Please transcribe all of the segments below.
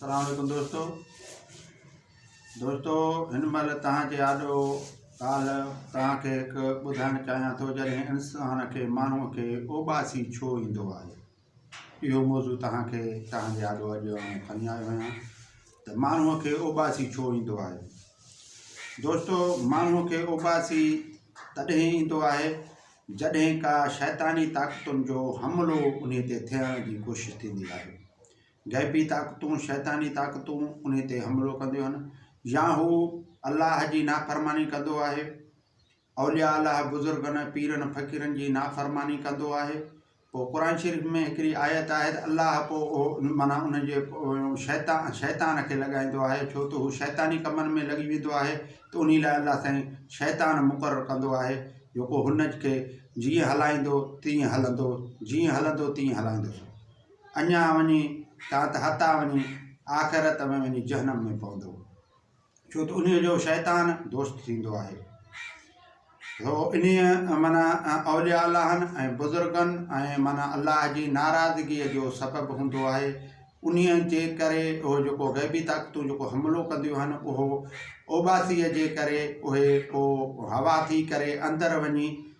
اسلام عليڪم دوستو دوستو هن مهل توهان جي آڏو ڳالهه توهان کي هڪ ٻڌائڻ چاهيان ٿو جڏهن انسان کي ماڻهو کي اوٻاسي ڇو ايندو آهي اهو موضوع توهان کي توهان جي آڏو اڄ کڻي آيو آهيان ته ماڻهو کي اوٻاسي ڇو ايندو آهي دوستو ماڻهو کي اوٻاسي تڏهن ايندو آهي جڏهن ڪا شيطاني طاقتن جو حملو ان تي ٿيڻ جي ڪوشش ٿيندي آهي غيبي طاقتون، شيطاني طاقتون، انهي تي حملو ڪنديون آهن يا هو الله جي نافرماني ڪندو آهي، اولياء الله، بزرگن، پيرن، فقيرن جي نافرماني ڪندو آهي، پوء قرآن شريف ۾ هڪڙي آيت آهي ته الله پوء اهو معنيٰ ان جي شيطان شيطان کي لڳائيندو آهي ڇو ته هو شيطاني ڪمن ۾ لڳي ويندو آهي ته انهي لاء الله سائين شيطان مقرر ڪندو آهي جيڪو هن کي جيئن هلائيندو تيئن هلندو جيئن هلندو تيئن هلائيندو سو. اڃا وڃي تان ته هتان وڃي آخرت ۾ وڃي جهنم ۾ پوندو ڇو ته انهيء جو شيطان دوست ٿيندو آهي هو انهيء معنيٰ اولياء اللهن ۽ بزرگن ۽ معنيٰ الله جي ناراضگيء جو سبب هوندو آهي انهيء جي ڪري اهو جيڪو غيبي طاقتون جيڪو حملو ڪنديون آهن اهو اوٻاسيء جي ڪري اهي پوء هوا ٿي ڪري اندر وڃي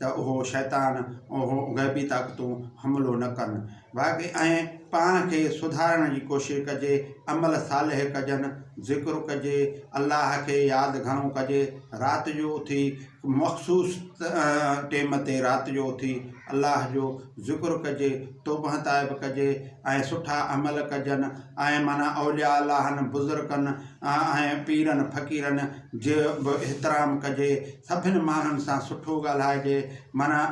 ته اهو شيطان اهو غيبي طاقتون حملو نه ڪن باقي ۽ پاڻ کي سڌارڻ جي ڪوشش ڪجي عمل صالح ڪجن ذڪر ڪجي الله کي ياد گهڻو ڪجي رات جو اٿي مخصوص ٽيم تي رات جو اٿي الله جو ذڪر ڪجي توبه تائب ڪجي ۽ سٺا عمل ڪجن ۽ معنيٰ اولياء الله بزرگن ۽ پيرن فقيرن جو به احترام ڪجي، سڀني ماڻهن سان سٺو ڳالهائجي، معنيٰ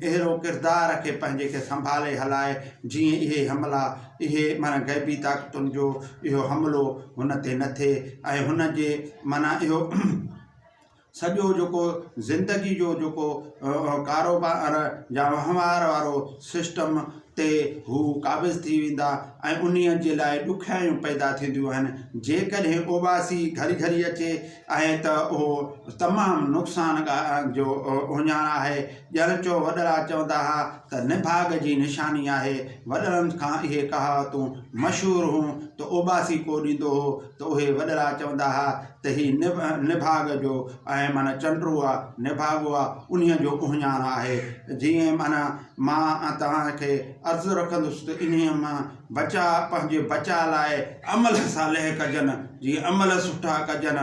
اهڙو ڪردار رکي پنهنجي کي سنڀالي هلائي، جيئن اهي حملا، اهي معنيٰ غيبي طاقتن جو اهو حملو هن تي نه ٿئي ۽ هن جي معنيٰ اهو سڄو جيڪو زندگي جو جيڪو ڪاروبار يا وهنوار وارو سسٽم تي هو قابض ٿي ويندا ۽ انهيء جي لاء ڏکيائيون پيدا ٿينديون آهن. جيڪڏهن اوٻاسي گهري گهري اچي ۽ ته اهو تمام نقصان ڳالهه جو اهڃاڻ آهي. ڄڻ جو وڏڙا چوندا ها ته نڀاڳ جي نشاني آهي. وڏڙن کان اهي ڪهاوتون مشهور هون ته اوٻاسي ڪو ڏيندو هو ته اهي وڏڙا چوندا ها ته هي نڀاڳ جو ۽ معنيٰ چنڊرو آ، نڀاڳو آ، انهيء جو اهڃاڻ آهي. جيئن معنيٰ مان توهان کي عرض رکندس ته انهيء مان بچاء پنهنجي بچاء لاء عمل صالح ڪجن، جيئن عمل سٺا ڪجن،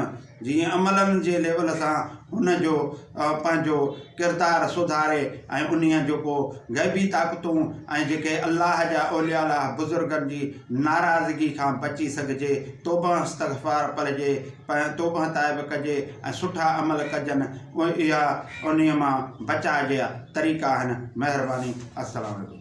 جيئن عملن جي ليول سان هن جو پنهنجو ڪردار سڌاري ۽ انهيء جو ڪو غيبي طاقتون ۽ جيڪي الله جا اولياء الله بزرگن جي ناراضگي کان بچي سگهجي، توبهه استغفار پڙهجي، توبهه تائب ڪجي ۽ سٺا عمل ڪجن. اها انهي مان بچاء جا طريقا آهن مهرباني السلام عليڪم.